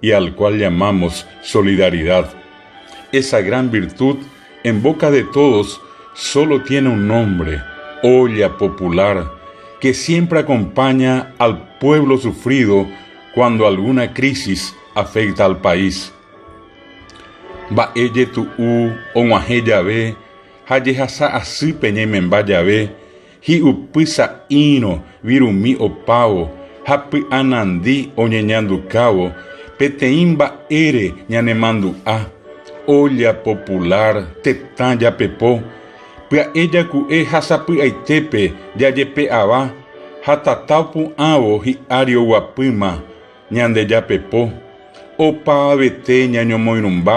y al cual llamamos solidaridad. Esa gran virtud en boca de todos solo tiene un nombre, olla popular, que siempre acompaña al pueblo sufrido cuando alguna crisis afecta al país. Mba'e jetu'u og̃uahẽ jave ha jehasa asýpe ñaimemba jave, Hi'upy sa'írõ virumi opávo ha py'anandi oñeñandukávo peteĩ mba'ére ñanemandu'a, olla popular, tetã japepo, pya'e jaku'e ha sapy'aitépe jajepe'ava ha tata opu'ãvo hi'ári oguapýma, Ñandejapepo, opavavete ñañomoirũmba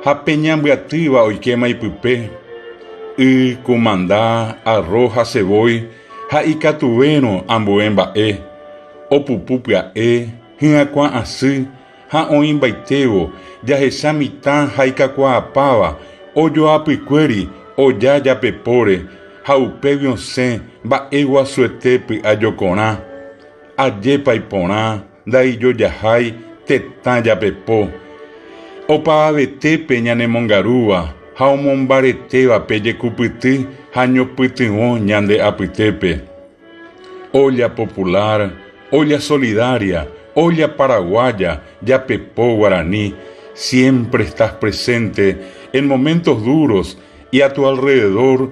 ha pe ñambyatýva oikéma ipype, y, kumanda, arro ha cevói ha ikatuvérõ ambue mba'e, opupu pya'e, hyakuã asy ha oĩmbaitévo jahecha mitã ha ikakuaapáva ojoapykuéri oja japepóre ha upégui osẽ mba'eguasuete py'a jokorã, Ajépa iporã ndaijojahái tetã japepo, opavavetépe ñanemongarúva ha omombaretévape jekupyty ha ñopytyvõ ñande apytépe. Olla Popular, Olla Solidaria, Olla Paraguaya, Japepo Guarani, siempre estás presente en momentos duros y a tu alrededor